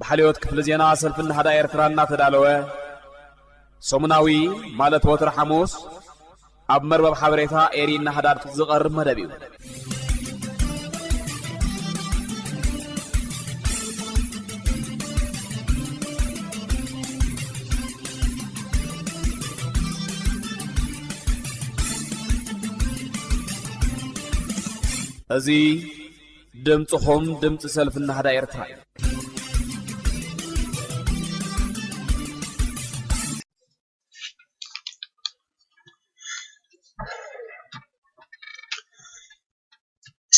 ብሓልዮት ክፍሊ ዜና ሰልፊ ናህዳ ኤርትራ እናተዳለወ ሰሙናዊ ማለት ወትሪ ሓሙስ ኣብ መርበብ ሓበሬታ ኤሪ ናህዳድ ዝቐርብ መደብ እዩ። እዚ ድምጽኹም ድምጺ ሰልፊ ናህዳ ኤርትራ እዩ።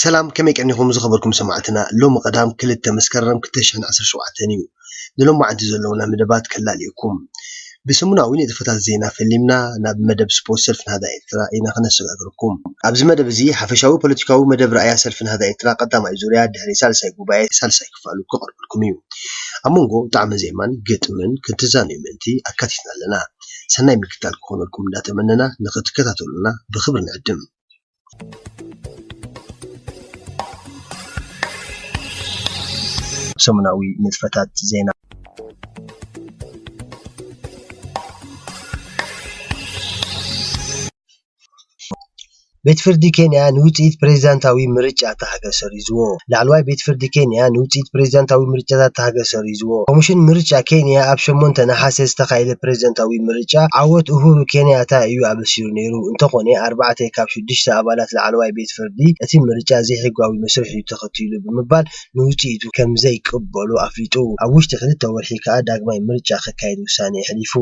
ሰላም ከመይ ቀኒኹም ዝኸበርኩም ሰማዕትና ሎሚ ቀዳም ክልተ መስከረም ክልተ ሸሕን ዓሰርተ ሸውዓተን እዩ። ንሎማዕንቲ ዘለዉና መደባት ከላልየኩም። ብሰሙናዊ ንጥፈታት ዜና ፈሊምና ናብ መደብ ስፖርት ሰልፊ ናህዳ ኤርትራ ኢና ከነሰጋግረኩም። ኣብዚ መደብ እዚ ሓፈሻዊ ፖለቲካዊ መደብ ራእያ ሰልፊ ናህዳ ኤርትራ ቀዳማይ ዙርያ ድሕሪ ሳልሳይ ጉባኤ ሳልሳይ ክፋሉ ክቐርበልኩም እዩ። ኣብ መንጎ ጣዕመ ዜማን ግጥምን ክትዛነዩ ምእንቲ ኣካቲትና ኣለና። ሰናይ ምክትታል ክኾነልኩም እንዳተመነና ንኽትከታተሉና ብኽብሪ ንዕድም። ሰሙናዊ ንጥፈታት ዜና ቤት ፍርዲ ኬንያ ንውፅኢት ፕሬዚዳንታዊ ምርጫ እታ ሃገር ሰሪዝዎ። ላዕለዋይ ቤት ፍርዲ ኬንያ ንውፅኢት ፕሬዚዳንታዊ ምርጫታት እታ ሃገር ሰሪዙ። ሒዝዎ። ኮሚሽን ምርጫ ኬንያ ኣብ ሸሞንተ ነሓሰ ዝተኻየደ ፕረዚደንታዊ ምርጫ ዓወት ኡሁሩ ኬንያታ እዩ ኣበሲሩ ነይሩ። እንተኾነ ኣርባዕተ ካብ ሽዱሽተ ኣባላት ላዕለዋይ ቤት ፍርዲ እቲ ምርጫ ዘይሕጋዊ መስርሕ እዩ ተኸቲሉ ብምባል ንውጽኢቱ ከምዘይቅበሎ ኣፍሊጡ። ኣብ ውሽጢ ክልተ ወርሒ ከኣ ዳግማይ ምርጫ ክካየድ ውሳነ የሕሊፉ።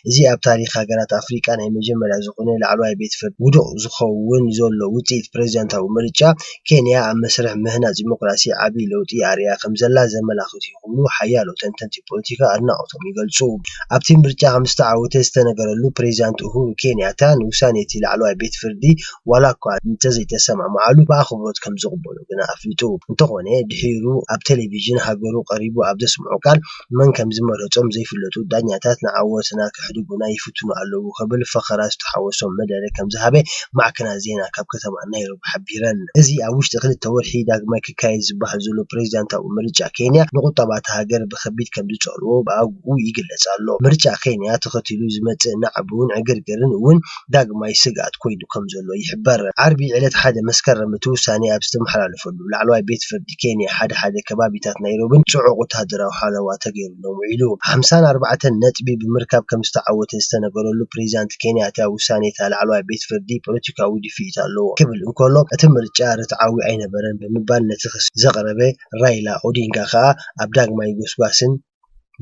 እዚ ኣብ ታሪኽ ሃገራት ኣፍሪቃ ናይ መጀመርያ ዝኾነ ላዕለዋይ ቤት ፍርዲ ውዱቕ ዝኸውን ዘሎ ውጽኢት ፕረዚደንታዊ ምርጫ ኬንያ ኣብ መስርሕ ምህናጽ ዲሞክራሲ ዓቢ ለውጢ ኣርእያ ከምዘላ ዘመላኽቱ ይኽኑ ሓያሎ ተንተንቲ ፖለቲካ ኣድናቖቶም ይገልጹ። ኣብቲ ምርጫ ከምዝተዓወተ ዝተነገረሉ ፕሬዚዳንት ኡሁሩ ኬንያታ ንውሳኔ'ቲ ላዕለዋይ ቤት ፍርዲ ዋላ'ኳ እንተዘይተሰማምዓሉ ብኣኽብሮት ከምዝቕበሎ ግና ኣፍሊጡ። እንተኾነ ድሒሩ ኣብ ቴሌቪዥን ሃገሩ ቀሪቡ ኣብ ዘስምዖ ቃል፣ መን ከም ዝመረጾም ዘይፍለጡ ዳኛታት ንዓወትና ከሕድጉና ይፍትኑ ኣለዉ ክብል ፈኸራ ዝተሓወሶ መደረ ከም ዝሃበ ማዕከናት ዜና ካብ ከተማ ናይሮቢ ሓቢረን። እዚ ኣብ ውሽጢ ክልተ ወርሒ ዳግማይ ክካየድ ዝበሃል ዘሎ ፕሬዚዳንታዊ ምርጫ ኬንያ ንቑጠባ እታ ሃገር ብከቢድ ከም ዝጸልዎ ብኣግኡ ይግለጽ ኣሎ። ምርጫ ኬንያ ተኸቲሉ ዝመጽእ ናዕቢውን ዕግርግርን እውን ዳግማይ ስግኣት ኮይኑ ከምዘሎ ይሕበር። ዓርቢ ዕለት ሓደ መስከረም እቲ ውሳኔ ኣብ ዝተመሓላለፈሉ፣ ላዕለዋይ ቤት ፍርዲ ኬንያ ሓደ ሓደ ከባቢታት ናይሮቢን ጽዑቕ ወተሃደራዊ ሓለዋ ተገይሩሎም ውዒሉ። ሓምሳን ኣርባዕተን ነጥቢ ብምርካብ ከምዝተዓወተ ዝተነገረሉ ፕሬዚዳንት ኬንያታ ውሳኔታ ላዕለዋይ ቤት ፍርዲ ፖለቲካዊ ድፍኢት ኣለዎ ክብል እንከሎ እቲ ምርጫ ርትዓዊ ኣይነበረን ብምባል ነቲ ክሲ ዘቕረበ ራይላ ኦዲንጋ ከኣ ኣብ ዳግማይ ጎስጓስን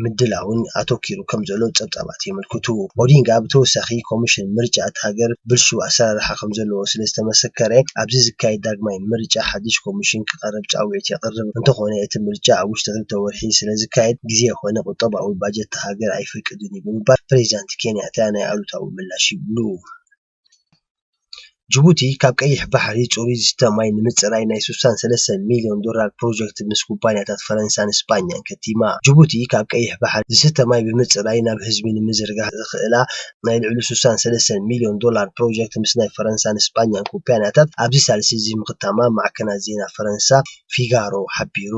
ምድላውን ኣተኲሩ ከምዘሎ ጸብጻባት የመልክቱ። ኦዲንጋ ብተወሳኺ ኮሚሽን ምርጫ እታ ሃገር ብልሹው ኣሰራርሓ ከምዘለዎ ስለዝተመሰከረ ኣብዚ ዝካየድ ዳግማይ ምርጫ ሓድሽ ኮሚሽን ክቐርብ ጻውዒት የቕርብ። እንተኾነ እቲ ምርጫ ኣብ ውሽጢ ክልተ ወርሒ ስለዝካየድ ግዜ ኮነ ቁጠባዊ ባጀት እታ ሃገር ኣይፈቅድን'ዩ ብምባል ፕሬዚዳንት ኬንያታ ናይ ኣሉታዊ ምላሽ ይብሉ። ጅቡቲ ካብ ቀይሕ ባሕሪ ፅሩይ ዝስተ ማይ ንምፅራይ ናይ ስሳን ሰለስተን ሚሊዮን ዶላር ፕሮጀክት ምስ ኩባኒያታት ፈረንሳን ስጳኛን ከቲማ። ጅቡቲ ካብ ቀይሕ ባሕሪ ዝስተ ማይ ብምፅራይ ናብ ህዝቢ ንምዝርጋሕ ዘኽእላ ናይ ልዕሉ ስሳን ሰለስተን ሚሊዮን ዶላር ፕሮጀክት ምስ ናይ ፈረንሳን ስጳኛን ኩባኒያታት ኣብዚ ሳልሲ እዚ ምኽታማ ማዕከናት ዜና ፈረንሳ ፊጋሮ ሓቢሩ።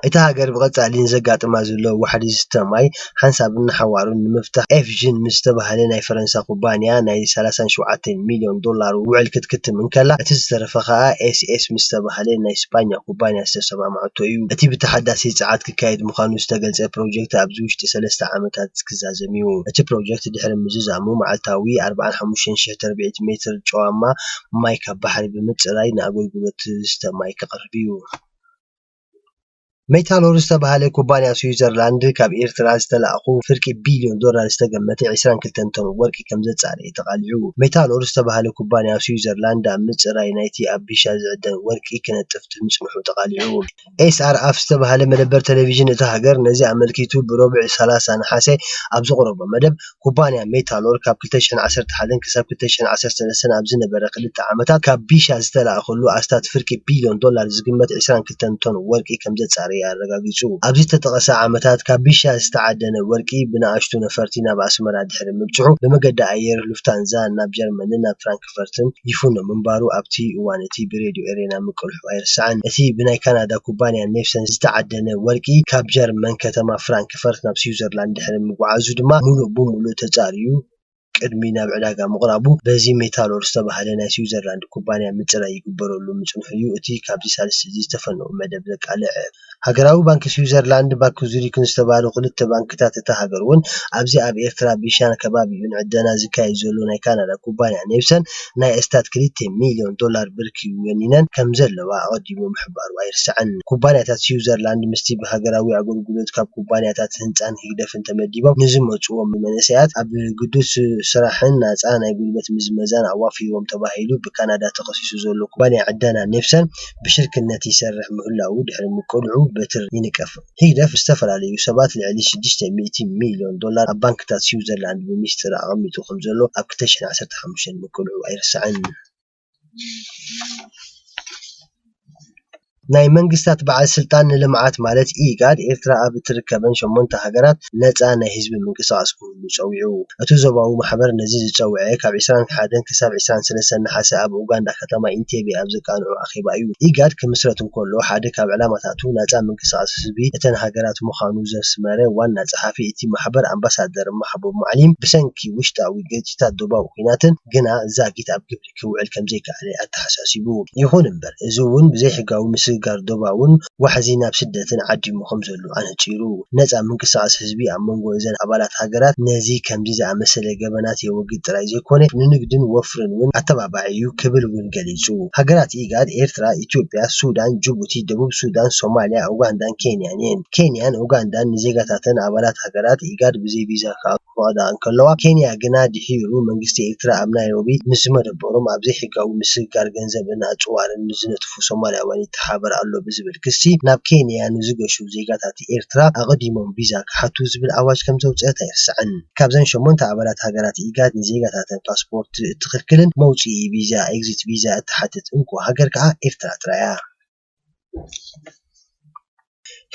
እታ ሃገር ብቐጻሊ ንዘጋጥማ ዘሎ ዋሕዲ ዝስተ ማይ ሓንሳብን ንሓዋሩን ንምፍታሕ ኤፍዥን ምስ ዝተባህለ ናይ ፈረንሳ ኩባንያ ናይ ሰላሳን ሸውዓተን ሚልዮን ዶላር ውዕል ክትክትም እንከላ እቲ ዝተረፈ ከኣ ኤስኤስ ምስ ዝተባህለ ናይ ስጳኛ ኩባንያ ዝተሰማምዐቶ እዩ። እቲ ብተሓዳሲ ጸዓት ክካየድ ምዃኑ ዝተገልጸ ፕሮጀክት ኣብዚ ውሽጢ ሰለስተ ዓመታት ክዛዘም እዩ። እቲ ፕሮጀክት ድሕሪ ምዝዛሙ መዓልታዊ ኣርብዓን ሓሙሽተን ሽሕ ተርብዒት ሜትር ጨዋማ ማይ ካብ ባሕሪ ብምፅራይ ንኣገልግሎት ዝስተ ማይ ከቕርብ እዩ። ሜታሎር ዝተብሃለ ኩባንያ ስዊዘርላንድ ካብ ኤርትራ ዝተላእኹ ፍርቂ ቢልዮን ዶላር ዝተገመተ ዕስራን ክልተን ቶን ወርቂ ከምዘፃረየ ተቓሊዑ። ሜታሎር ዝተብሃለ ኩባንያ ስዊዘርላንድ ኣብ ምፅራይ ናይቲ ኣብ ቢሻ ዝዕደን ወርቂ ክነጥፍ ምፅንሑ ተቓሊዑ። ኤስኣርኣፍ ዝተባህለ መደበር ተለቪዥን እታ ሃገር ነዚ ኣመልኪቱ ብሮቡዕ ሰላሳ ነሓሰ ኣብ ዘቕረቦ መደብ፣ ኩባንያ ሜታኖል ካብ ክልተ ሽሕን ዓሰርተ ሓደን ክሳብ ክልተ ሽሕን ዓሰርተ ሰለስተን ኣብ ዝነበረ ክልተ ዓመታት ካብ ቢሻ ዝተላእከሉ ኣስታት ፍርቂ ቢልዮን ዶላር ዝግመት ዕስራን ክልተን ቶን ወርቂ ከምዘጻረየ ኣረጋጊጹ። ኣብዚ ዝተጠቕሰ ዓመታት ካብ ቢሻ ዝተዓደነ ወርቂ ብንኣሽቱ ነፈርቲ ናብ ኣስመራ ድሕሪ ምብጽሑ ብመገዲ ኣየር ሉፍታንዛ ናብ ጀርመንን ናብ ፍራንክፈርትን ፍራንክፈርትን ይፍኖ ምንባሩ ኣብቲ እዋን እቲ ብሬድዮ ኤረና ምቅልሑ ኣይርሳዕን። እቲ ብናይ ካናዳ ኩባንያ ኔፍሰን ዝተዓደነ ወርቂ ካብ ጀርመን ከተማ ፍራንክፈርት ናብ ስዊዘርላንድ ድሕሪ ምጉዓዙ ድማ ምሉእ ብምሉእ ተጻርዩ ቅድሚ ናብ ዕዳጋ ምቕራቡ በዚ ሜታሎር ዝተባህለ ናይ ስዊዘርላንድ ኩባንያ ምጽራይ ይግበረሉ ምጽንሑ'ዩ እቲ ካብዚ ሳልስቲ'ዚ ዝተፈነወ መደብ ዘቃልዕ። ሃገራዊ ባንኪ ስዊዘርላንድን ባንኪ ዙሪክን ዝተባህሉ ክልተ ባንክታት እታ ሃገር እውን ኣብዚ ኣብ ኤርትራ ቢሻን ከባቢኡን ዕደና ዝካየድ ዘሎ ናይ ካናዳ ኩባንያ ኔቭሰን ናይ ኣስታት ክልተ ሚልዮን ዶላር ብርኪ ወኒነን ከምዘለዋ ኣቐዲሙ ምሕባሩ ኣይርሳዕን። ኩባንያታት ስዊዘርላንድ ምስቲ ብሃገራዊ ኣገልግሎት ካብ ኩባንያታት ህንጻን ህግደፍን ተመዲቦም ንዝመጽዎም መንእሰያት ኣብ ግዱድ ስራሕን ናጻ ናይ ጉልበት ምዝመዛን ኣዋፊርዎም ተባሂሉ ብካናዳ ተኸሲሱ ዘሎ ኩባንያ ዕደና ኔቭሰን ብሽርክነት ይሰርሕ ምህላዉ ድሕሪ ምቅልዑ በትሪ ይንቀፍ። ህግደፍ ዝተፈላለዩ ሰባት ልዕሊ ሽዱሽተ ሚእቲ ሚልዮን ዶላር ኣብ ባንክታት ስዊዘርላንድ ብሚስጢር ኣቐሚጡ ከምዘሎ ኣብ ክልተ ሽሕን ዓሰርተ ሓሙሽተን ምቅልዑ ኣይርሳዕን። ናይ መንግስታት በዓል ስልጣን ንልምዓት ማለት ኢጋድ፣ ኤርትራ ኣብ እትርከበን ሸሞንተ ሃገራት ነጻ ናይ ህዝቢ ምንቅስቓስ ክህሉ። ክህሉ ጸዊዑ። እቲ ዞባዊ ማሕበር ነዚ ዝጸውዔ ካብ ዕስራን ሓደን ክሳብ ዕስራን ሰለስተን ነሓሰ ኣብ ኡጋንዳ ከተማ ኢንቴቤ ኣብ ዘቃንዖ ኣኼባ እዩ። ኢጋድ ክምስረት እንከሎ ሓደ ካብ ዕላማታቱ ናጻ ምንቅስቓስ ህዝቢ እተን ሃገራት ምዃኑ ዘስመረ ዋና ጸሓፊ እቲ ማሕበር ኣምባሳደር ማሕቡብ ማዕሊም ብሰንኪ ውሽጣዊ ግርጭታት ዶባዊ ኲናትን ግና ዛጊት ኣብ ግብሪ ኵነታት ክውዕል ከምዘይከኣለ ኣተሓሳሲቡ። ይኹን እምበር እዚ እውን ብዘይሕጋዊ ምስግጋር ዶባውን ዋሕዚ ናብ ስደትን ዓዲሙ ከምዘሎ ኣነጺሩ። ነጻ ምንቅስቓስ ህዝቢ ኣብ መንጎ እዘን ኣባላት ሃገራት ነዚ ከምዚ ዝኣመሰለ ገበናት የወግድ ጥራይ ዘይኮነ ንንግድን ወፍርን እውን ኣተባባዒ'ዩ ክብል እውን ገሊጹ። ሃገራት ኢጋድ ኤርትራ፣ ኢትዮጵያ፣ ሱዳን፣ ጅቡቲ፣ ደቡብ ሱዳን፣ ሶማልያ፣ ኡጋንዳን ኬንያን እየን። ኬንያን ኡጋንዳን ንዜጋታተን ኣባላት ሃገራት ኢጋድ ብዘይ ቪዛ ክኣትዉ፣ ክፈቕዳ እንከለዋ፣ ኬንያ ግና ድሒሩ መንግስቲ ኤርትራ ኣብ ናይሮቢ ምስ ዝመደበሮም ኣብ ዘይሕጋዊ ምስግጋር ገንዘብን ኣጽዋርን ምስ ዝነጥፉ ሶማላውያን ይተሓባበር ኣሎ ብዝብል ክሲ ናብ ኬንያ ንዝገሹ ዜጋታት ኤርትራ ኣቐዲሞም ቪዛ ክሓቱ ዝብል ኣዋጅ ከምዘውጽአት ኣይርሳዕን። ካብዘን ሸሞንተ ኣባላት ሃገራት ኢጋድ ንዜጋታተን ፓስፖርት እትኽልክልን መውጽኢ ቪዛ፣ Exit Visa፣ እትሓትት እንኮ ሃገር ከኣ ኤርትራ ጥራይ'ያ።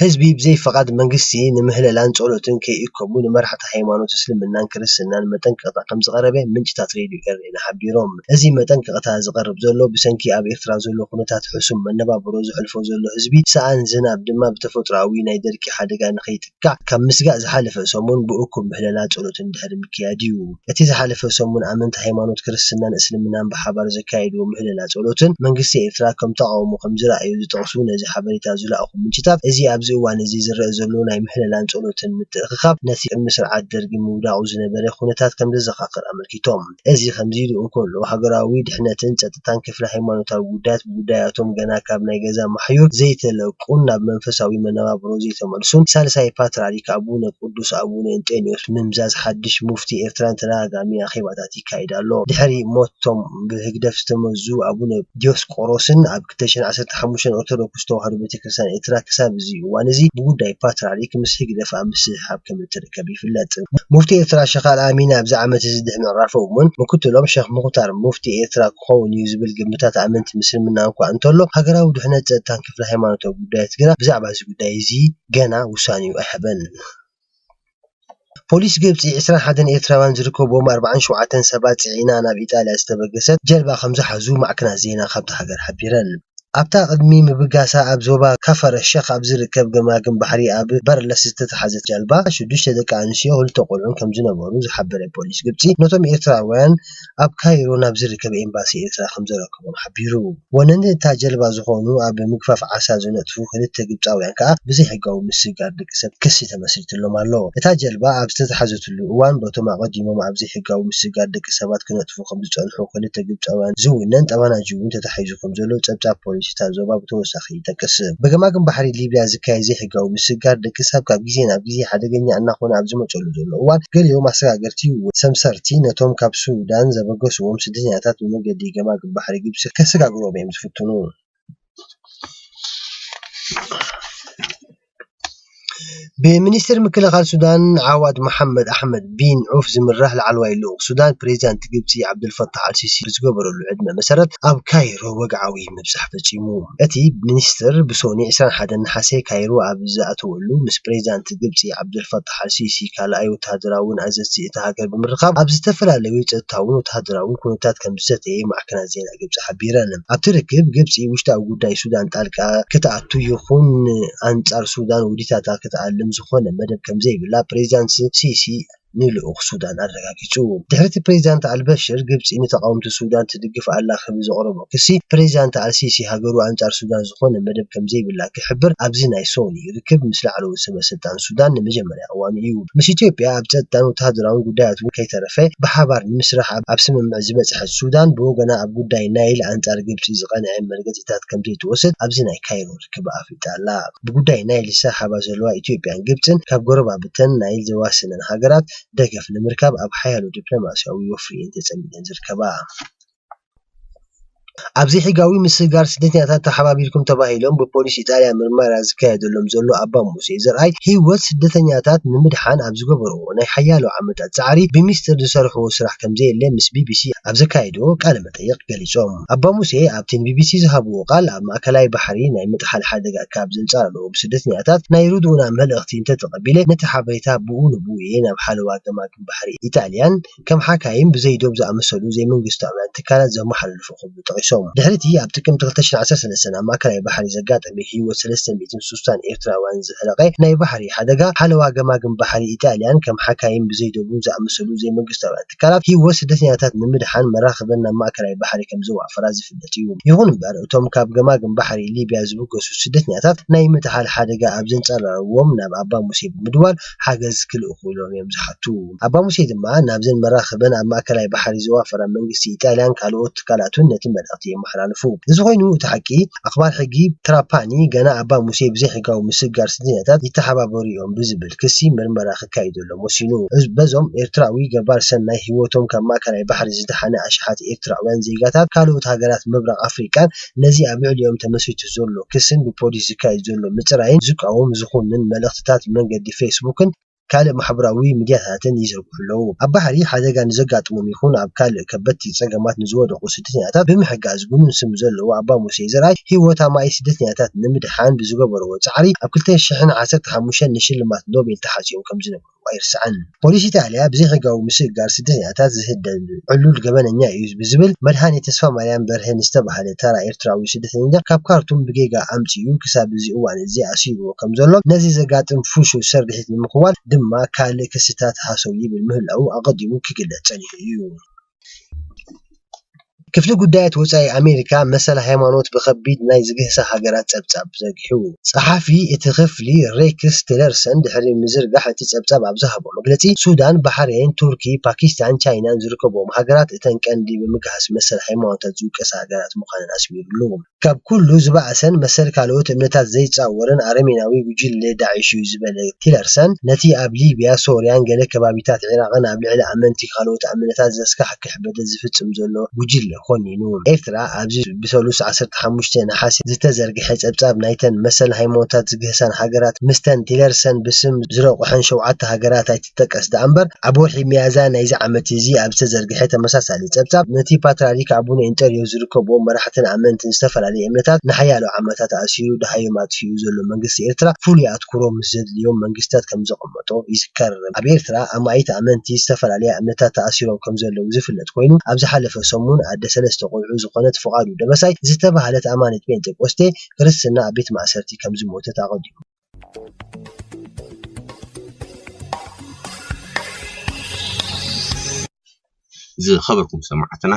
ህዝቢ ብዘይ ፍቓድ መንግስቲ ንምህለላን ጸሎትን ከይእከቡ ንመራሕቲ ሃይማኖት እስልምናን ክርስትናን መጠንቀቕታ ከምዝቐረበ ምንጭታት ሬድዮ ኤረና ሓቢሮም። እዚ መጠንቀቕታ ዝቐርብ ዘሎ ብሰንኪ ኣብ ኤርትራ ዘሎ ኩነታት ሕሱም መነባብሮ ዘሕልፎ ዘሎ ህዝቢ፣ ሰኣን ዝናብ ድማ ብተፈጥሮኣዊ ናይ ደርቂ ሓደጋ ንኸይጥቃዕ ካብ ምስጋእ ዝሓለፈ ሰሙን ብእኩብ ምህለላ ጸሎትን ድሕሪ ምክያድ'ዩ። እቲ ዝሓለፈ ሰሙን ኣመንቲ ሃይማኖት ክርስትናን እስልምናን ብሓባር ዘካየድዎ ምህለላ ጸሎትን መንግስቲ ኤርትራ ከም ተቓውሞ ከም ዝረኣዮ ዝጠቕሱ ነዚ ሓበሬታ ዝለኣኹ ምንጭታት እዚ ኣብዚ እዋን እዚ ዝረኣ ዘሎ ናይ ምህለላን ጸሎትን ምትእኽኻብ ነቲ ቅድሚ ስርዓት ደርጊ ምውዳቑ ዝነበረ ኩነታት ከም ዘዘኻኽር ኣመልኪቶም። እዚ ከምዚ ኢሉ እንከሎ ሃገራዊ ድሕነትን ጸጥታን ብፍላይ ሃይማኖታዊ ጉዳያት ብጉዳያቶም ገና ካብ ናይ ገዛ ማሕዩር ዘይተለቁን ናብ መንፈሳዊ መነባብሮ ዘይተመልሱን ሳልሳይ ፓትርያርክ ኣቡነ ቅዱስ ኣቡነ እንጦንዮስ ምምዛዝ ሓድሽ ሙፍቲ ኤርትራን ተደጋጋሚ ኣኼባታት ይካየድ ኣሎ። ድሕሪ ሞቶም ብህግደፍ ዝተመዙ ኣቡነ ዲዮስቆሮስን ኣብ ክልተ ሽሕን ዓሰርተ ሓሙሽተን ኦርቶዶክስ ተዋህዶ ቤተክርስትያን ኤርትራ ክሳብ እዚ እዋን እዚ ብጉዳይ ፓትርያርክ ምስ ህግደፍ ኣብ ምስሕሓብ ከምእትርከብ ይፍለጥ። ሙፍቲ ኤርትራ ሸኽ ኣልኣሚን ኣብዚ ዓመት እዚ ድሕሪ ምዕራፎም እውን ምክትሎም ሸኽ ሙኽታር ሙፍቲ ኤርትራ ክኸውን'ዩ ዝብል ግምታት ኣመንቲ ምስልምና እኳ እንተሎ፣ ሃገራዊ ድሕነት ጸጥታን ክፍሊ ሃይማኖታዊ ጉዳያት ግና ብዛዕባ እዚ ጉዳይ እዚ ገና ውሳኔኡ ኣይሃበን። ፖሊስ ግብጺ፣ ዕስራን ሓደን ኤርትራውያን ዝርከብዎም ኣርብዓን ሸውዓተን ሰባት ጽዒና ናብ ኢጣልያ ዝተበገሰት ጀልባ ከምዝሓዙ ማዕከናት ዜና ካብታ ሃገር ሓቢረን። ኣብታ ቅድሚ ምብጋሳ ኣብ ዞባ ከፈር ኣሸኽ ኣብ ዝርከብ ገማግም ባሕሪ ኣብ በርለስ ዝተታሕዘት ጃልባ፣ ሽዱሽተ ደቂ ኣንስትዮን ክልተ ቆልዑን ከምዝነበሩ ዝሓበረ ፖሊስ ግብጺ፣ ነቶም ኤርትራውያን፣ ኣብ ካይሮ ናብ ዝርከብ ኤምባሲ ኤርትራ ከምዘረከቦም ሓቢሩ። ወነንቲ እታ ጀልባ ዝኾኑ ኣብ ምግፋፍ ዓሳ ዝነጥፉ ክልተ ግብጻውያን ከኣ ብዘይሕጋዊ ምስግጋር ደቂ ሰብ ክሲ ተመስሪትሎም ኣሎ። እታ ጀልባ ኣብ ዝተታሕዘትሉ እዋን በቶም ኣቐዲሞም ኣብ ዘይሕጋዊ ምስግጋር ደቂ ሰባት ክነጥፉ ከምዝጸንሑ ክልተ ግብጻውያን ዝውነን ጠባናጁ'ውን ተታሒዙ ከምዘሎ ጸብጻብ ፖሊስ እታ ዞባ ብተወሳኺ ይጠቅስ። ብገማግም ባሕሪ ሊብያ ዝካየድ ዘይሕጋዊ ምስግጋር ደቂሰብ ካብ ግዜ ናብ ግዜ ሓደገኛ እናኾነ ኣብ ዝመጸሉ ዘሎ እዋን፣ ገሊኦም ኣሰጋገርቲ ወይ ሰምሰርቲ ነቶም ካብ ሱዳን ዘበገስዎም ስደተኛታት ብመገዲ ገማግም ባሕሪ ግብጺ ከሰጋግርዎም'ዮም ዝፍትኑ። ብሚኒስተር ምክልኻል ሱዳን ዓዋድ መሓመድ ኣሕመድ ቢን ዑፍ ዝምራሕ ላዕለዋይ ልኡኽ ሱዳን፣ ፕረዚደንት ግብጺ ዓብደልፈታሕ ኣልሲሲ ብዝገበረሉ ዕድመ መሰረት ኣብ ካይሮ ወግዓዊ ምብጻሕ ፈጺሙ። እቲ ሚኒስተር ብሶኒ ዕስራን ሓደን ነሓሰ ካይሮ ኣብ ዝኣተወሉ፣ ምስ ፕረዚደንት ግብጺ ዓብደልፈታሕ ኣልሲሲ ካልኣይ ወተሃደራውን ኣዘዝቲ እታ ሃገር ብምርኻብ ኣብ ዝተፈላለዩ ጸጥታውን ወተሃደራውን ኩነታት ከምዝዘተየ ማዕከናት ዜና ኢሮፓ ንመራሕቲ ግብጺ ሓቢረን። ኣብቲ ርክብ፣ ግብጺ ውሽጣዊ ጉዳይ ሱዳን ጣልቃ ክትኣቱ ይኹን ኣንጻር ሱዳን ውዲታታ ክትኣልም ዝኾነ መደብ ከምዘይብላ ፕሬዚዳንት ሲሲ ንልኡኽ ሱዳን ኣረጋጊጹ። ድሕሪ'ቲ ፕሬዚዳንት ኣልበሽር ግብጺ ንተቓወምቲ ሱዳን ትድግፍ ኣላ ክብል ዘቕረቦ ክሲ፣ ፕሬዚዳንት ኣልሲሲ ሃገሩ ኣንጻር ሱዳን ዝኾነ መደብ ከምዘይብላ ክሕብር ኣብዚ ናይ ሶኒ ርክብ ምስ ላዕለዎት ሰበስልጣን ሱዳን ንመጀመርያ ዝነበረላ እዋን እዩ። ምስ ኢትዮጵያ ኣብ ጸጥታን ወተሃደራውን ጉዳያት'ውን ከይተረፈ ብሓባር ንምስራሕ ኣብ ስምምዕ ዝበጽሐት ሱዳን፣ ብወገና ኣብ ጉዳይ ናይል ኣንጻር ግብጺ ዝቐንዐ መርገጺታት ከምዘይትወስድ ኣብዚ ናይ ካይሮ ርክባ ኣፍሊጣ ኣላ። ብጉዳይ ናይል ዝሰሓሓባ ዘለዋ ኢትዮጵያን ግብጽን ካብ ጎረባብተን ናይል ዘዋስነን ሃገራት ደገፍ ንምርካብ ኣብ ሓያሎ ዲፕሎማስያዊ ወፍሪ'የን ተጸሚደን ዝርከባ። ኣብ ዘይሕጋዊ ምስግጋር ስደተኛታት ተሓባቢርኩም ተባሂሎም ብፖሊስ ኢጣልያ ምርመራ ዝካየደሎም ዘሎ ኣባ ሙሴ ዘርኣይ ህይወት ስደተኛታት ንምድሓን ኣብ ዝገበርዎ ናይ ሓያሎ ዓመታት ጻዕሪ ብሚስጥር ዝሰርሕዎ ስራሕ ከምዘየለ ምስ ቢቢሲ ኣብ ዘካየድዎ ቃለ መጠይቕ ገሊጾም። ኣባ ሙሴ ኣብቲ ንቢቢሲ ዝሃብዎ ቃል ኣብ ማእከላይ ባሕሪ ናይ ምጥሓል ሓደጋ ካብ ዘንጻልሉ ስደተኛታት ናይ ርድኡና መልእኽቲ እንተተቐቢለ ነቲ ሓበሬታ ብኡ ንብኡ እየ ናብ ሓለዋ ገማግም ባሕሪ ኢጣልያን ከም ሓካይም ብዘይ ዶብ ዝኣመሰሉ ዘይመንግስታውያን ትካላት ዘመሓላልፉ ክብሉ ጠቒሶም። ድሕሪ እቲ ኣብ ጥቅምቲ ክልተ ሽሕን ዓሰርተ ሰለስተን ኣብ ማእከላይ ባሕሪ ዘጋጠመ ህይወት ሰለስተ ሚእትን ሱሳን ኤርትራውያን ዘህለቐ ናይ ባሕሪ ሓደጋ፣ ሓለዋ ገማግም ባሕሪ ኢጣልያን ከም ሓካይም ብዘይ ዶብን ዝኣመሰሉ ዘይመንግስታውያን ትካላት ህይወት ስደተኛታት ንምድሓን መራኽበን ናብ ማእከላይ ባሕሪ ከም ዘዋፈራ ዝፍለጥ እዩ። ይኹን እምበር እቶም ካብ ገማግም ባሕሪ ሊብያ ዝብገሱ ስደተኛታት ናይ ምጥሓል ሓደጋ ኣብ ዘንጸላልዎም ናብ ኣባ ሙሴ ብምድዋል ሓገዝ ክልእኹሎም እዮም ዝሓቱ። ኣባ ሙሴ ድማ ናብዘን መራኽበን ኣብ ማእከላይ ባሕሪ ዘዋፈራ መንግስቲ ኢጣልያን ካልኦት ትካላቱን ነቲ መልእኽቲ የመሓላልፉ። እዚ ኮይኑ እቲ ሓቂ፣ ኣኽባር ሕጊ ትራፓኒ ገና ኣባ ሙሴ ብዘይሕጋዊ ምስግጋር ስደተኛታት ይተሓባበሩ እዮም ብዝብል ክሲ ምርመራ ክካይደሎም ወሲኑ። በዞም ኤርትራዊ ገባር ሰናይ ህይወቶም ካብ ማእከላይ ባሕሪ ዝደሓነ ኣሽሓት ኤርትራውያን ዜጋታት ካልኦት ሃገራት ምብራቕ ኣፍሪቃን ኣባላት ነዚ ኣብ ልዕሊኦም ተመስሪቱ ዘሎ ክስን ብፖሊስ ዝካየድ ዘሎ ምጽራይን ዝቃወም ዝኹንን መልእኽትታት ብመንገዲ ፌስቡክን ካልእ ማሕበራዊ ሚድያታትን ይዝርግሑ ኣለዉ። ኣብ ባሕሪ ሓደጋ ንዘጋጥሞም ይኹን ኣብ ካልእ ከበድቲ ጸገማት ንዝወደቑ ስደተኛታት ብምሕጋዝ ግኑን ስም ዘለዎ ኣባ ሙሴ ዘርኣይ ህይወት ኣማኢት ስደተኛታት ንምድሓን ብዝገበርዎ ጻዕሪ ኣብ ክልተ ሽሕን ዓሰርተ ሓሙሽተን ንሽልማት ኖቤል ተሓጽዮም ከምዝነበሩ ምዃኑ ኣይርሳዕን። ፖሊስ ኢጣልያ ብዘይሕጋዊ ምስግጋር ስደተኛታት ዝህደድ ዕሉል ገበነኛ'ዩ ብዝብል መድሃኔ ተስፋማርያም በርሀ ንዝተባህለ ተራ ኤርትራዊ ስደተኛ ካብ ካርቱም ብጌጋ ኣምጺኡ ክሳብ እዚ እዋን'ዚ ኣሲሩዎ ከምዘሎን ነዚ ዘጋጥም ፍሹል ስርሒት ንምኽዋል ድማ ካልእ ክስታት ሃሰው ይብል ምህላዉ ኣቐዲሙ ክግለጽ ጸኒሑ'ዩ። ክፍሊ ጉዳያት ወፃኢ ኣሜሪካ መሰል ሃይማኖት ብኸቢድ ናይ ዝግህሳ ሃገራት ፀብፃብ ዘርጊሑ። ፀሓፊ እቲ ክፍሊ ሬክስ ቲለርሰን ድሕሪ ምዝርጋሕ እቲ ፀብፃብ ኣብ ዝሃቦ መግለፂ፣ ሱዳን፣ ባሕሬን፣ ቱርኪ፣ ፓኪስታንን ቻይናን ዝርከብኦም ሃገራት እተን ቀንዲ ብምግሃስ መሰል ሃይማኖታት ዝውቀሳ ሃገራት ምዃነን ኣስሚሩሉ። ካብ ኩሉ ዝበኣሰን መሰል ካልኦት እምነታት ዘይጻወርን ኣረሜናዊ ጉጅለ ዳዒሽ'ዩ ዝበለ ቲለርሰን፣ ነቲ ኣብ ሊብያ፣ ሶርያን ገለ ከባቢታት ዒራቕን ኣብ ልዕሊ ኣመንቲ ካልኦት ኣምነታት ዘስካሕክሕ በደል ዝፍጽም ዘሎ ጉጅለ ኮኒኑ። ኤርትራ፣ ኣብዚ ብሰሉስ ዓሰርተ ሓሙሽተ ነሓሰ ዝተዘርግሐ ጸብጻብ ናይተን መሰል ሃይማኖታት ዝግህሳን ሃገራት፣ ምስተን ቲለርሰን ብስም ዝረቑሐን ሸውዓተ ሃገራት ኣይትዛመድን። ይጠቀስ ደኣምበር፣ ኣብ ወርሒ ሚያዝያ ናይዚ ዓመት'ዚ ኣብ ዝተዘርግሐ ተመሳሳሊ ጸብጻብ፣ ነቲ ፓትርያርክ ኣቡነ ኢንጠርዮስ ዝርከብዎም መራሕትን ኣመንትን ዝተፈላለየ እምነታት ንሓያሎ ዓመታት ኣእሲሩ ደሃዮም ኣጥፊኡ ዘሎ መንግስቲ ኤርትራ ፍሉይ ኣትኩሮ ምስ ዘድልዮም መንግስታት ከምዘቐመጦ ይዝከር። ኣብ ኤርትራ ኣማኢት ኣመንቲ ዝተፈላለያ እምነታት ተኣሲሮም ከምዘለዉ ዝፍለጥ ኮይኑ፣ ኣብ ዝሓለፈ ሰሙን ኣደ ሰለስተ ቆልዑ ዝኾነት ፍቓዱ ደበሳይ ዝተባህለት ኣማኒት ጴንጠቆስቴ ክርስትና ኣብ ቤት ማእሰርቲ ከምዝሞተት ኣቐዲሙ ዝኸበርኩም ሰማዕትና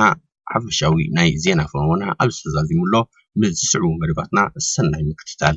ሓፈሻዊ ናይ ዜና ፈወና ኣብ ዝተዛዚሙ ኣሎ ምስ ዝስዕቡ መደባትና ሰናይ ምክትታል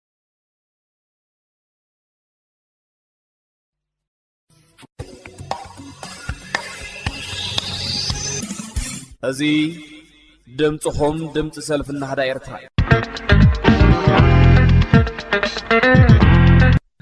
እዚ ድምፅኹም ድምፂ ሰልፊ ናህዳ ኤርትራ እዩ።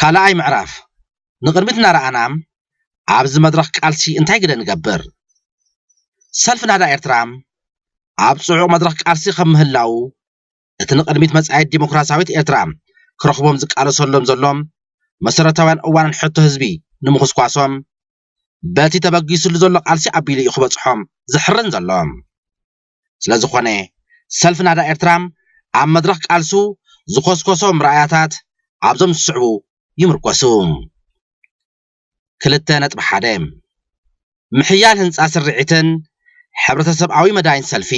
ካልኣይ ምዕራፍ ንቕድሚት እናረኣና ኣብዚ መድረኽ ቃልሲ እንታይ ግደ ንገብር? ሰልፊ ናህዳ ኤርትራ ኣብ ጽዑቕ መድረኽ ቃልሲ ከም ምህላዉ እቲ ንቕድሚት መጻኢት ዲሞክራሲያዊት ኤርትራ ክረኽቦም ዝቃለሰሎም ዘሎ መሰረታውያን እዋንን ሕቶ ህዝቢ ንምኹስኳሶም በቲ ተበጊስሉ ዘሎ ቃልሲ ኣቢሉ እዩ ክበጽሖም ዝሕርን ዘሎ። ስለዝኾነ፣ ሰልፊ ናዳ ኤርትራ ኣብ መድረኽ ቃልሱ ዝኾስኮሶም ራእያታት ኣብዞም ዝስዕቡ ይምርኮሱ። ክልተ ነጥቢ ሓደ። ምሕያል ህንጻ ስርዒትን ሕብረተሰብኣዊ መዳይን ሰልፊ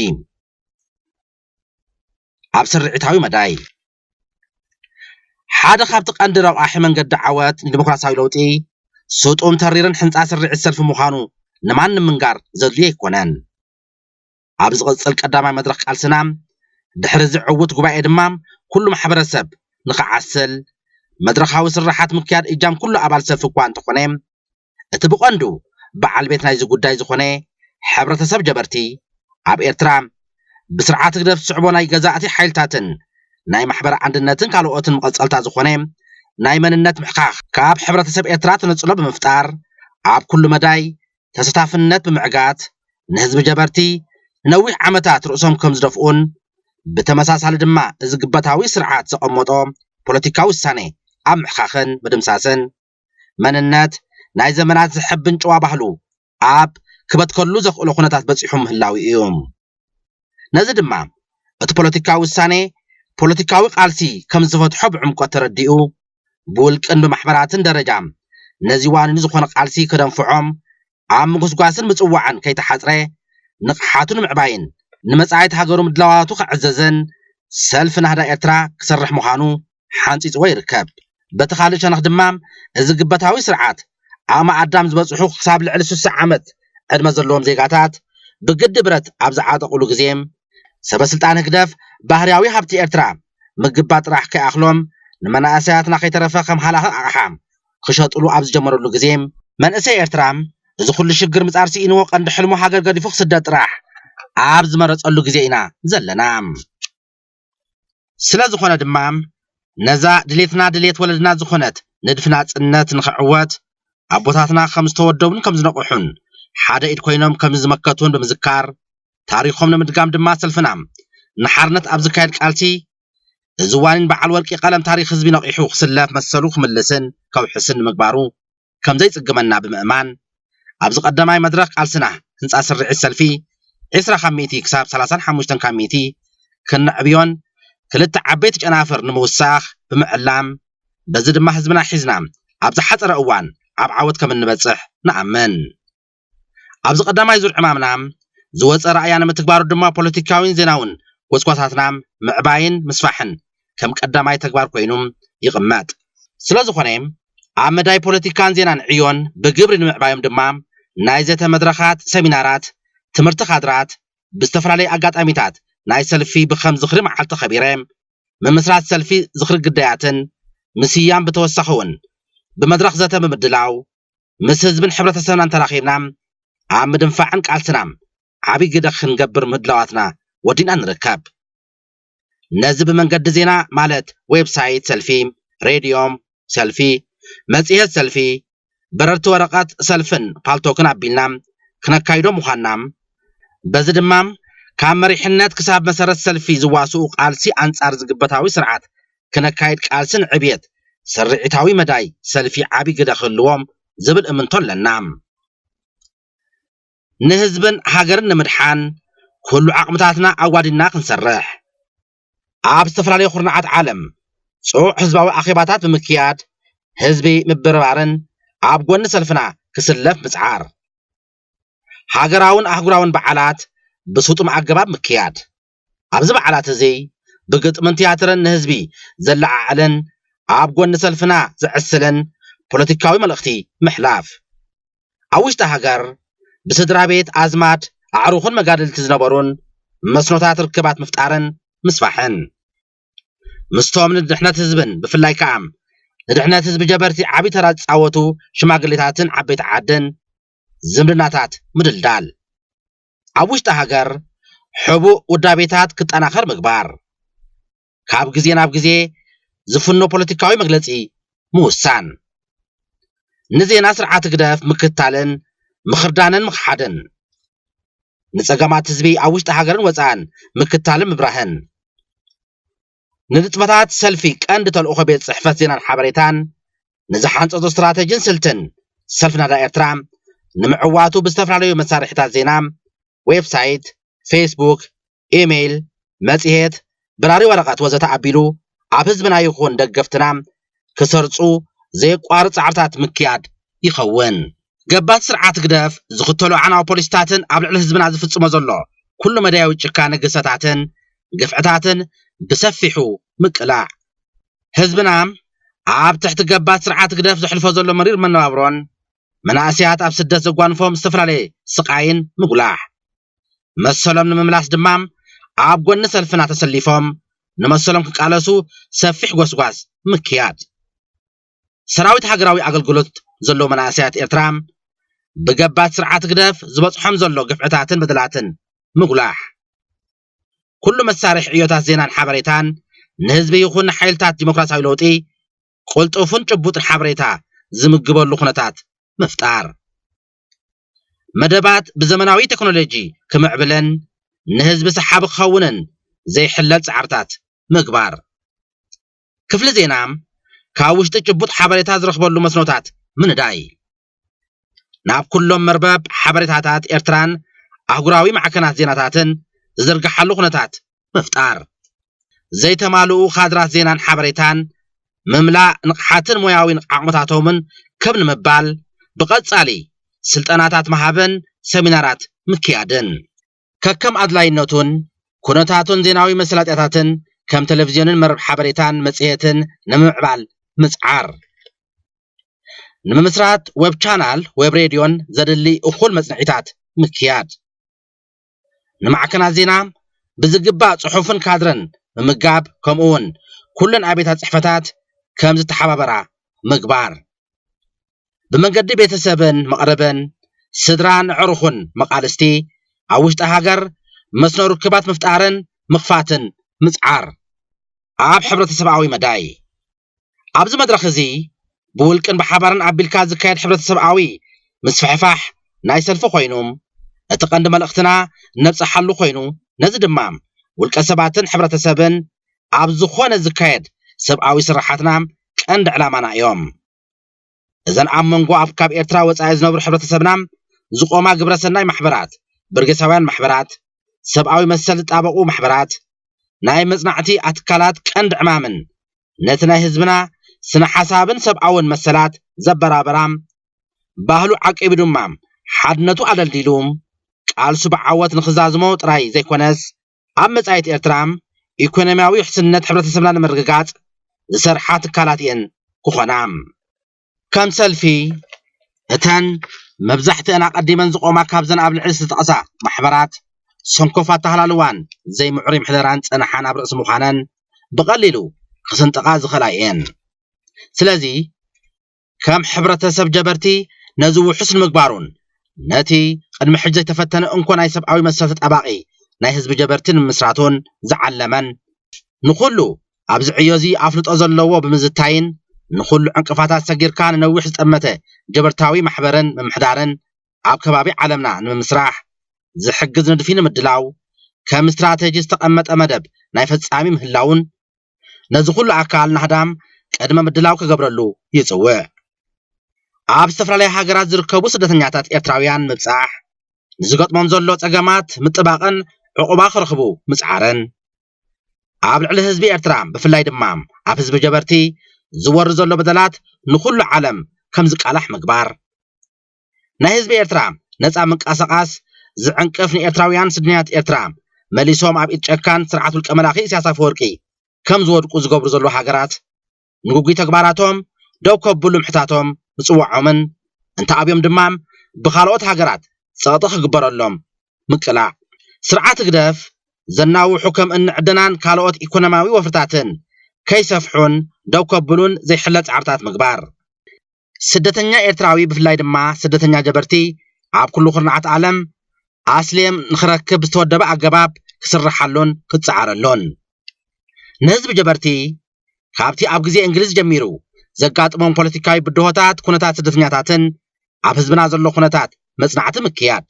ኣብ ስርዒታዊ መዳይ ሓደ ካብቲ ቀንዲ ረቛሒ መንገዲ ዓወት ንዲሞክራሲያዊ ለውጢ ስጡም ተሪርን ሕንጻ ስርዒት ሰልፊ ምዃኑ ንማንም ምንጋር ዘድልዮ ኣይኮነን። ኣብ ዝቕጽል ቀዳማይ መድረኽ ቃልስና ድሕሪ እዚ ዕዉት ጉባኤ ድማ ኩሉ ማሕበረሰብ ንኽዓስል መድረኻዊ ስርሓት ምክያድ እጃም ኩሉ ኣባል ሰልፊ እኳ እንተኾነ እቲ ብቐንዱ በዓል ቤት ናይዚ ጉዳይ ዝኾነ ሕብረተሰብ ጀበርቲ ኣብ ኤርትራ ብስርዓት ህግደፍ ዝስዕቦ ናይ ገዛእቲ ሓይልታትን ናይ ማሕበር ኣንድነትን ካልኦትን መቐጸልታ ዝኾነ ናይ መንነት ምሕካኽ ካብ ሕብረተሰብ ኤርትራ ተነጽሎ ብምፍጣር ኣብ ኩሉ መዳይ ተሰታፍነት ብምዕጋት ንህዝቢ ጀበርቲ ንነዊሕ ዓመታት ርእሶም ከም ዝደፍኡን ብተመሳሳሊ ድማ እዚ ግበታዊ ስርዓት ዘቐመጦ ፖለቲካዊ ውሳኔ ኣብ ምሕካኽን ምድምሳስን መንነት ናይ ዘመናት ዘሐብን ጭዋ ባህሉ ኣብ ክበትከሉ ዘኽእሎ ኩነታት በጺሑ ምህላዉ ኢዩ። ነዚ ድማ እቲ ፖለቲካዊ ውሳኔ ፖለቲካዊ ቃልሲ ከም ዝፈትሖ ብዕምቆት ተረዲኡ ብውልቅን ብማሕበራትን ደረጃ ነዚ ዋኒኑ ዝኾነ ቃልሲ ከደንፍዖም ኣብ ምጉስጓስን ምጽዋዕን ከይተሓጽረ ንቕሓቱ ንምዕባይን ንመጻኢት ሃገሩ ምድላዋቱ ከዕዘዘን ሰልፊ ናህዳ ኤርትራ ክሰርሕ ምዃኑ ሓንጺጽዎ ይርከብ። በቲ ካልእ ሸነኽ ድማ እዚ ግበታዊ ስርዓት፣ ዓቕሚ ኣዳም ዝበጽሑ ክሳብ ልዕሊ ስሳ ዓመት ዕድመ ዘለዎም ዜጋታት ብግዲ ብረት ኣብ ዝዓጠቑሉ ግዜ፣ ሰበስልጣን ህግደፍ ባህርያዊ ሃብቲ ኤርትራ ምግባት ጥራሕ ከይኣኽሎም ንመናእሰያትና ከይተረፈ ከም ሃላኺ ኣቕሓ ክሸጡሉ ኣብ ዝጀመሩሉ ግዜ፣ መንእሰይ ኤርትራ እዚ ኩሉ ሽግር ምጻር ስኢንዎ ቀንዲ ሕልሙ ሃገር ገዲፉ ክስደድ ጥራሕ ኣብ ዝመረጸሉ ግዜ ኢና ዘለና። ስለ ዝኾነ ድማ ነዛ ድሌትና ድሌት ወለድና ዝኾነት ንድፊ ናጽነት ንኽዕወት ኣቦታትና ከም ዝተወደቡን ከም ዝነቕሑን ሓደ ኢድ ኮይኖም ከም ዝመከቱን ብምዝካር ታሪኾም ንምድጋም ድማ ሰልፍና ንሓርነት ኣብ ዝካየድ ቃልሲ እዚ ዋኒን በዓል ወርቂ ቀለም ታሪኽ ህዝቢ ነቒሑ ክስለፍ መሰሉ ክምልስን ከውሕስን ንምግባሩ ከምዘይጽግመና ብምእማን፣ ኣብዚ ቀዳማይ መድረኽ ቃልስና ህንጻት ስርዒት ሰልፊ ዕስራ ካብ ሚእቲ ክሳብ ሰላሳን ሓሙሽተን ካብ ሚእቲ ከነዕብዮን ክልተ ዓበይቲ ጨናፍር ንምውሳኽ ብምዕላም በዚ ድማ ህዝብና ሒዝና ኣብ ዝሓጸረ እዋን ኣብ ዓወት ከምንበጽሕ ንኣምን። ኣብዚ ቀዳማይ ዙር ዕማምና ዝወፀ ራእያ ንምትግባሩ ድማ ፖለቲካዊን ዜናውን ጎስጓሳትና ምዕባይን ምስፋሕን ከም ቀዳማይ ተግባር ኮይኑ ይቕመጥ። ስለዝኾነ ኣብ መዳይ ፖለቲካን ዜናን ዕዮን ብግብሪ ንምዕባዮም ድማ ናይ ዘተ መድረኻት፣ ሰሚናራት፣ ትምህርቲ ካድራት፣ ብዝተፈላለዩ ኣጋጣሚታት ናይ ሰልፊ ብከም ዝኽሪ መዓልቲ ከቢረ ምምስራት ሰልፊ ዝኽሪ ግዳያትን ምስያም ብተወሳኺ እውን ብመድረኽ ዘተ ብምድላው ምስ ህዝብን ሕብረተሰብናን ተራኺብና ኣብ ምድንፋዕን ቃልስና ዓብይ ግደ ክንገብር ምህድላዋትና ወዲእና ንርከብ። ነዚ ብመንገዲ ዜና ማለት ዌብሳይት ሰልፊ፣ ሬድዮ ሰልፊ፣ መፅሄት ሰልፊ፣ በረርቲ ወረቐት ሰልፍን ፓልቶክን ኣቢልና ክነካይዶ ምዃንና በዚ ድማ ካብ መሪሕነት ክሳብ መሰረት ሰልፊ ዝዋስኡ ቃልሲ ኣንፃር ዝግበታዊ ስርዓት ክነካይድ ቃልሲ ንዕብየት ስርዒታዊ መዳይ ሰልፊ ዓቢ ግደ ክህልዎ ዝብል እምንቶ ኣለና። ንህዝብን ሃገርን ንምድሓን ኩሉ ዓቕምታትና ኣዋዲድና ክንሰርሕ፣ ኣብ ዝተፈላለዩ ኩርናዓት ዓለም ጽዑቕ ህዝባዊ ኣኼባታት ብምክያድ ህዝቢ ምብርባርን ኣብ ጎኒ ሰልፍና ክስለፍ ምጽዓር፣ ሃገራውን ኣህጉራውን በዓላት ብስጡም ኣገባብ ምክያድ፣ ኣብዚ በዓላት እዚ ብግጥምን ትያትርን ንህዝቢ ዘለዓዕልን ኣብ ጎኒ ሰልፍና ዘዕስልን ፖለቲካዊ መልእኽቲ ምሕላፍ። ኣብ ውሽጢ ሃገር ብስድራ ቤት፣ ኣዝማድ፣ ኣዕሩኽን መጋድልቲ ዝነበሩን መስኖታት ርክባት ምፍጣርን ምስፋሕን። ምስቶም ንድሕነት ህዝብን ብፍላይ ከኣ ንድሕነት ህዝቢ ጀበርቲ ዓቢ ተራ ዝጻወቱ ሽማግሌታትን ዓበይቲ ዓድን ዝምድናታት ምድልዳል። ኣብ ውሽጢ ሃገር ሕቡእ ውዳቤታት ክጠናኸር ምግባር። ካብ ግዜ ናብ ግዜ ዝፍኖ ፖለቲካዊ መግለጺ ምውሳን። ንዜና ስርዓት ህግደፍ ምክትታልን ምኽርዳንን ምኽሓድን። ንጸገማት ህዝቢ ኣብ ውሽጢ ሃገርን ወጻእን ምክትታልን ምብራህን። ንንጥፈታት ሰልፊ ቀንዲ ተልእኾ ቤት ጽሕፈት ዜናን ሓበሬታን፣ ንዝሓንጸጾ ስትራተጂን ስልትን ሰልፊ ናዳ ኤርትራ ንምዕዋቱ ብዝተፈላለዩ መሳርሒታት ዜና፣ ዌብሳይት፣ ፌስቡክ፣ ኢሜይል፣ መጽሔት፣ በራሪ ወረቐት ወዘተ ኣቢሉ ኣብ ህዝብና ይኹን ደገፍትና ክሰርጹ ዘየቋርጽ ጻዕርታት ምክያድ ይኸውን። ገባቲ ስርዓት ህግደፍ ዝኽተሎ ኣዕናዊ ፖሊሲታትን ኣብ ልዕሊ ህዝብና ዝፍጽሞ ዘሎ ኩሉ መዳያዊ ጭካነ ግህሰታትን ግፍዕታትን ብሰፊሑ ምቅላዕ፣ ህዝብና ኣብ ትሕቲ ገባቲ ስርዓት ህግደፍ ዘሕልፎ ዘሎ መሪር መነባብሮን መናእሰያት ኣብ ስደት ዘጓንፎም ዝተፈላለየ ስቓይን ምጉላሕ። መሰሎም ንምምላስ ድማ ኣብ ጎኒ ሰልፍና ተሰሊፎም ንመሰሎም ክቃለሱ ሰፊሕ ጎስጓስ ምክያድ። ሰራዊት ሃገራዊ ኣገልግሎት ዘለዉ መናእሰያት ኤርትራ ብገባቲ ስርዓት ህግደፍ ዝበጽሖም ዘሎ ግፍዕታትን በደላትን ምጉላሕ። ኩሉ መሳርሒ ዕዮታት ዜናን ሓበሬታን ንህዝቢ ይኹን ንሓይልታት ዲሞክራሲያዊ ለውጢ ቅልጡፍን ጭቡጥን ሓበሬታ ዝምግበሉ ኩነታት ምፍጣር። መደባት ብዘመናዊ ቴክኖሎጂ ክምዕብለን ንህዝቢ ሰሓቢ ክኸውንን ዘይሕለል ፃዕርታት ምግባር። ክፍሊ ዜና ካብ ውሽጢ ጭቡጥ ሓበሬታ ዝረኽበሉ መስኖታት ምንዳይ። ናብ ኩሎም መርበብ ሓበሬታታት ኤርትራን ኣህጉራዊ ማዕከናት ዜናታትን ዝዝርግሓሉ ኩነታት ምፍጣር፣ ዘይተማልኡ ካድራት ዜናን ሓበሬታን ምምላእ ንቕሓትን ሞያዊ ዓቕምታቶምን ከብ ንምባል ብቐጻሊ ስልጠናታት ምሃብን ሰሚናራት ምክያድን። ከከም ኣድላይነቱን ኩነታቱን ዜናዊ መሰላጥያታትን ከም ተለቪዝዮንን መርብ ሓበሬታን መጽሔትን ንምምዕባል ምጽዓር። ንምምስራት ወብ ቻናል ወብ ሬድዮን ዘድሊ እኹል መጽንዒታት ምክያድ። ንማዕከናት ዜና ብዝግባእ ጽሑፍን ካድረን ምምጋብ ከምኡ እውን ኩለን ኣብያታት ጽሕፈታት ከም ዝተሓባበራ ምግባር ብመንገዲ ቤተሰብን መቕርብን ስድራን ዕሩኹን መቓልስቲ ኣብ ውሽጢ ሃገር መስኖ ርክባት ምፍጣርን ምኽፋትን ምጽዓር ኣብ ሕብረተሰብኣዊ መዳይ ኣብዚ መድረኽ እዚ ብውልቅን ብሓባርን ኣቢልካ ዝካየድ ሕብረተሰብኣዊ ምስፍሕፋሕ ናይ ሰልፊ ኮይኑ እቲ ቀንዲ መልእኽትና ነብፀሓሉ ኮይኑ ነዚ ድማ ውልቀ ሰባትን ሕብረተሰብን ኣብ ዝኾነ ዝካየድ ሰብኣዊ ስርሓትና ቀንዲ ዕላማና እዮም። እዘን ኣብ መንጎ ኣብ ካብ ኤርትራ ወጻኢ ዝነብሩ ሕብረተሰብና ዝቖማ ግብረ ሰናይ ማሕበራት፣ በርጌሳውያን ማሕበራት፣ ሰብኣዊ መሰል ዝጣበቑ ማሕበራት፣ ናይ መጽናዕቲ ኣትካላት ቀንዲ ዕማምን ነቲ ናይ ህዝብና ስነ ሓሳብን ሰብኣውን መሰላት ዘበራበራ ባህሉ ዓቂቡ ድማ ሓድነቱ ኣደልዲሉ ቃልሱ ብዓወት ንኽዛዝሞ ጥራይ ዘይኮነስ ኣብ መጻኢት ኤርትራ ኢኮኖሚያዊ ውሕስነት ሕብረተሰብና ንምርግጋጽ ዝሰርሓ ትካላት እየን ክኾና። ከም ሰልፊ፣ እተን መብዛሕትአን ኣቐዲመን ዝቖማ ካብዘን ኣብ ልዕሊ ዝተጠቕሳ ማሕበራት ሰንኮፍ ኣተሃላልዋን ዘይምዕሩይ ምሕደራን ዝጸንሓን ኣብ ርእሲ ምዃነን ብቐሊሉ ክስንጥቓ ዝኽእላ እየን። ስለዚ ከም ሕብረተሰብ ጀበርቲ ነዚ ውሑስ ንምግባሩን ነቲ ቅድሚ ሕጂ ዘይተፈተነ እንኮ ናይ ሰብኣዊ መሰል ተጣባቒ ናይ ህዝቢ ጀበርቲ ንምምስራቱን ዝዓለመን ንኹሉ ኣብዚ ዕዮ'ዚ ኣፍልጦ ዘለዎ ብምዝታይን ንኹሉ ዕንቅፋታት ሰጊርካ ንነዊሕ ዝጠመተ ጀበርታዊ ማሕበርን ምምሕዳርን ኣብ ከባቢ ዓለምና ንምምስራሕ ዝሕግዝ ንድፊ ንምድላው ከም ስትራተጂ ዝተቐመጠ መደብ ናይ ፈጻሚ ምህላዉን ነዚ ኩሉ ኣካል ናህዳም ቅድመ ምድላው ክገብረሉ ይጽውዕ። ኣብ ዝተፈላለያ ሃገራት ዝርከቡ ስደተኛታት ኤርትራውያን ምብጻሕ፣ ንዝገጥሞም ዘሎ ጸገማት ምጥባቕን ዕቑባ ክረኽቡ ምጽዓርን፣ ኣብ ልዕሊ ህዝቢ ኤርትራ ብፍላይ ድማ ኣብ ህዝቢ ጀበርቲ ዝወርድ ዘሎ በደላት ንኹሉ ዓለም ከም ዝቃላሕ ምግባር፣ ናይ ህዝቢ ኤርትራ ነጻ ምንቃሳቓስ ዝዕንቅፍ ንኤርትራውያን ስደተኛታት ኤርትራ መሊሶም ኣብ ኢድ ጨካን ስርዓት ውልቀ መላኺ ኢሳያስ ኣፈወርቂ ከም ዝወድቁ ዝገብሩ ዘለዉ ሃገራት ንጉጉይ ተግባራቶም ደው ከብሉ ምሕታቶም ምጽዋዖምን እንተኣብዮም ድማ ብኻልኦት ሃገራት ጸቕጢ ክግበረሎም ምቅላዕ ስርዓት ህግደፍ ዘናውሑ ከም እኒ ዕደናን ካልኦት ኢኮኖሚያዊ ወፍርታትን ከይሰፍሑን ደው ከብሉን ዘይሕለል ጻዕርታት ምግባር። ስደተኛ ኤርትራዊ ብፍላይ ድማ ስደተኛ ጀበርቲ ኣብ ኩሉ ኩርናዓት ዓለም ኣስሌም ንክረክብ ዝተወደበ ኣገባብ ክስርሓሉን ክጸዓረሉን ንህዝቢ ጀበርቲ ካብቲ ኣብ ግዜ እንግሊዝ ጀሚሩ ዘጋጥሞም ፖለቲካዊ ብድሆታት ኩነታት ስደተኛታትን ኣብ ህዝብና ዘሎ ኩነታት መጽናዕቲ ምክያድ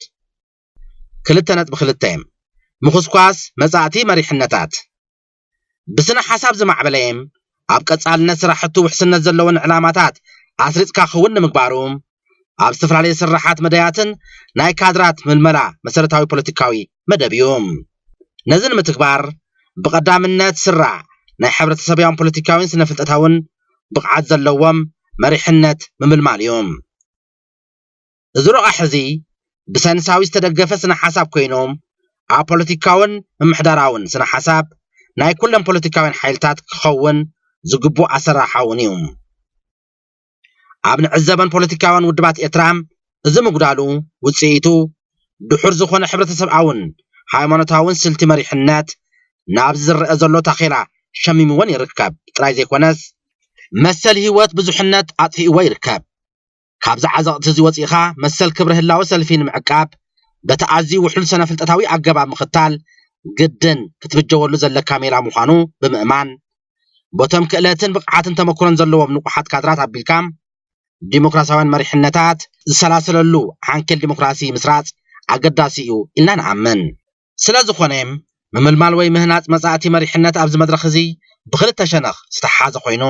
ክልተ ነጥቢ ክልተ ምኹስኳስ መጻእቲ መሪሕነታት ብስነ ሓሳብ ዝማዕበለ ኣብ ቀፃልነት ስራሕቱ ውሕስነት ዘለዎን ዕላማታት ኣስሪፅካ ክውን ንምግባሩ ኣብ ዝተፈላለዩ ስራሓት መዳያትን ናይ ካድራት ምልመላ መሰረታዊ ፖለቲካዊ መደብ እዩ። ነዚ ንምትግባር ብቐዳምነት ስራ ናይ ሕብረተሰብያውን ፖለቲካዊን ስነ ፍልጠታውን ብቕዓት ዘለዎም መሪሕነት ምምልማል እዩ። እዚ ረቛሒ እዚ ብሰንሳዊ ዝተደገፈ ስነ ሓሳብ ኮይኖም ኣብ ፖለቲካውን ምምሕዳራውን ስነ ሓሳብ ናይ ኩለን ፖለቲካውያን ሓይልታት ክኸውን ዝግብኦ ኣሰራርሓ እውን እዩ። ኣብ ንዕዘበን ፖለቲካውያን ውድባት ኤርትራ እዚ ምጉዳሉ ውጽኢቱ ድሑር ዝኾነ ሕብረተሰብኣውን ሃይማኖታውን ስልቲ መሪሕነት ናብዚ ዝረኣ ዘሎ ታኼላ ሸሚምወን ይርከብ ጥራይ ዘይኮነስ መሰል ህይወት ብዙሕነት ኣጥፊእዎ ይርከብ። ካብዚ ዓዘቕቲ እዚ ወጺእኻ መሰል ክብሪ ህላወ ሰልፊ ንምዕቃብ በቲ ኣዝዩ ውሕሉል ሰነ-ፍልጠታዊ ኣገባብ ምኽታል ግድን ክትብጀወሉ ዘለካ ሜላ ምዃኑ ብምእማን ቦቶም ክእለትን ብቕዓትን ተመኩሮን ዘለዎም ንቑሓት ካድራት ኣቢልካ ዲሞክራሲያውያን መሪሕነታት ዝሰላሰለሉ ዓንኬል ዲሞክራሲ ምስራጽ ኣገዳሲ እዩ ኢልና ንኣምን። ስለዝኾነ ምምልማል ወይ ምህናፅ መፃእቲ መሪሕነት ኣብዚ መድረኽ እዚ ብኽልተ ሸነኽ ዝተሓሓዘ ኮይኑ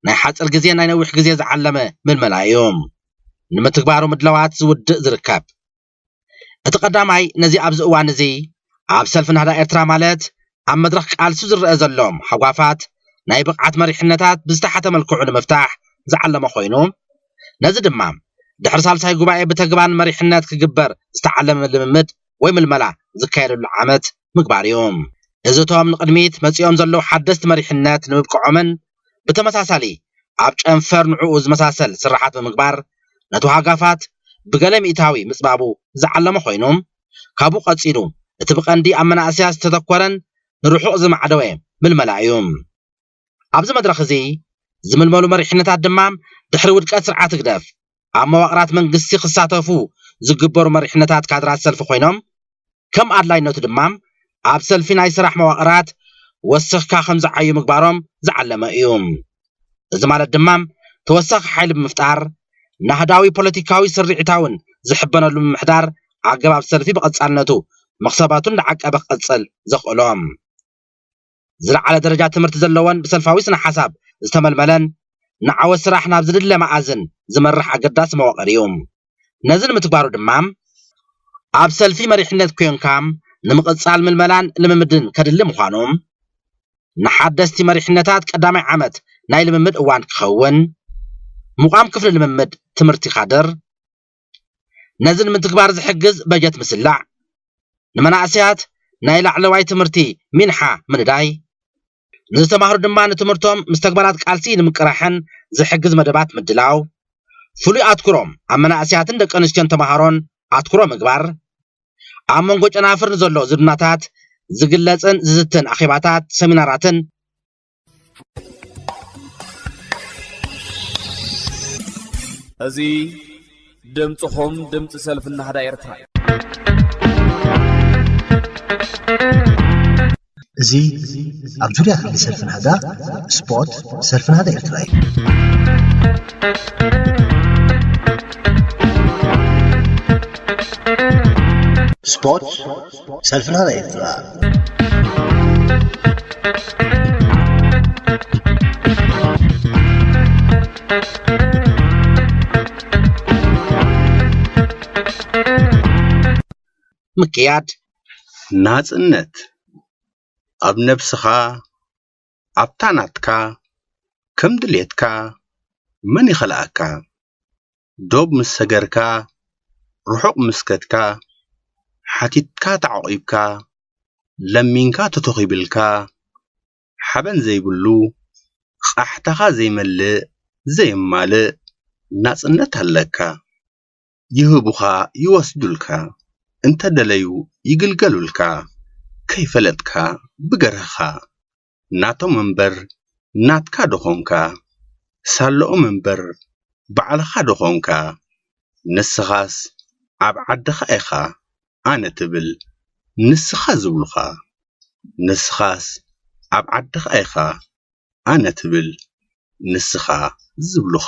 ናይ ሓፅር ግዜን ናይ ነዊሕ ግዜ ዝዓለመ ምልመላ እዩ ንምትግባሩ ምድላዋት ዝውድእ ዝርከብ። እቲ ቀዳማይ ነዚ ኣብዚ እዋን እዚ ኣብ ሰልፊ ናህዳ ኤርትራ ማለት ኣብ መድረኽ ቃልሱ ዝረኣ ዘሎ ሃጓፋት ናይ ብቕዓት መሪሕነታት ብዝተሓተ መልክዑ ንምፍታሕ ዝዓለመ ኮይኑ ነዚ ድማ ድሕሪ ሳልሳይ ጉባኤ ብተግባን መሪሕነት ክግበር ዝተዓለመ ልምምድ ወይ ምልመላ ዝካየደሉ ዓመት ምግባር እዩ። እዚ እቶም ንቕድሚት መጺኦም ዘለዉ ሓደስቲ መሪሕነት ንምብቅዖምን ብተመሳሳሊ ኣብ ጨንፈር ንዕኡ ዝመሳሰል ስርሓት ብምግባር ነቲ ዋጋፋት ብገለ ሚእታዊ ምጽባቡ ዝዓለመ ኮይኑ ካብኡ ቀጺሉ እቲ ብቐንዲ ኣብ መናእሰያት ዝተተኮረን ንርሑቕ ዝማዕደወ ምልመላ እዩ። ኣብዚ መድረኽ እዚ ዝምልመሉ መሪሕነታት ድማ ድሕሪ ውድቀት ስርዓት ህግደፍ ኣብ መዋቕራት መንግስቲ ክሳተፉ ዝግበሩ መሪሕነታት ካድራት ሰልፊ ኮይኖም ከም ኣድላይነቱ ድማ ኣብ ሰልፊ ናይ ስራሕ መዋቕራት ወሲኽካ ከም ዝዓዩ ምግባሮም ዝዓለመ እዩ። እዚ ማለት ድማ ተወሳኺ ሓይሊ ብምፍጣር ናህዳዊ ፖለቲካዊ ስርዒታውን ዝሕበነሉ ምምሕዳር ኣገባብ ሰልፊ ብቐጻልነቱ መኽሰባቱ እንዳዓቀበ ክቕጽል ዘኽእሎ ዝለዓለ ደረጃ ትምህርቲ ዘለወን ብሰልፋዊ ስነ-ሓሳብ ዝተመልመለን ንዓወት ስራሕ ናብ ዝድለ መኣዝን ዝመርሕ ኣገዳሲ መዋቕር እዩ። ነዚ ንምትግባሩ ድማ፣ ኣብ ሰልፊ መሪሕነት ኴንካ ንምቕጻል ምልመላን ልምምድን ከድሊ ምዃኑ፣ ንሓደስቲ መሪሕነታት ቀዳማይ ዓመት ናይ ልምምድ እዋን ክኸውን፣ ምቛም ክፍሊ ልምምድ ትምህርቲ ካድር፣ ነዚ ንምትግባር ዝሕግዝ በጀት ምስላዕ፣ ንመናእሰያት ናይ ላዕለዋይ ትምህርቲ ሚንሓ ምንዳይ፣ ንዝተማህሩ ድማ ንትምህርቶም ምስ ተግባራት ቃልሲ ንምቅራሕን ዝሕግዝ መደባት ምድላው፣ ፍሉይ ኣትኩሮም ኣብ መናእሰያትን ደቂ ኣንስትዮን ተማሃሮን ኣትኩሮ ምግባር፣ ኣብ መንጎ ጨናፍር ንዘሎ ዝምድናታት ዝግለጽን ዝዝትን ኣኼባታት፣ ሰሚናራትን እዚ ድምፅኹም ድምፂ ሰልፊ ናህዳ ኤርትራ እዩ እዚ ኣብ ዙርያ ክሊ ሰልፊ ናህዳ ስፖርት ሰልፊ ናህዳ ኤርትራ እዩ ስፖርት ሰልፍና ናይ ምክያድ ናጽነት ኣብ ነብስኻ ኣብታ ናትካ ከም ድሌትካ መን ይኸልኣካ? ዶብ ምስ ሰገርካ ርሑቕ ምስ ከድካ ሓቲትካ ተዓቝብካ ለሚንካ ተተኺብልካ ሓበን ዘይብሉ ቓሕታኻ ዘይመልእ ዘየማልእ ናጽነት ኣለካ ይህቡኻ ይወስዱልካ እንተደለዩ ይግልገሉልካ ከይፈለጥካ ብገርህኻ ናቶም እምበር ናትካ ዶ ኾንካ? ሳለኦም እምበር ባዕልኻ ዶ ኾንካ? ንስኻስ ኣብ ዓድኻ ኢኻ ኣነ ትብል ንስኻ ዝብሉኻ? ንስኻስ ኣብ ዓድኻ ኢኻ ኣነ ትብል ንስኻ ዝብሉኻ?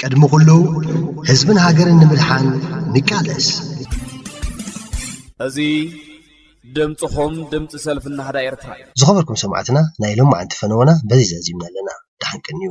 ቅድሚ ኩሉ ህዝብን ሃገርን ንምድሓን ንቃለስ! እዚ ድምጽኹም ድምጺ ሰልፊ ናህዳ ኤርትራ እዩ። ዝኸበርኩም ሰማዕትና ናይ ሎማዓንቲ ፈነወና በዚ ዛዚምና ኣለና። ደሓን ቀንዩ።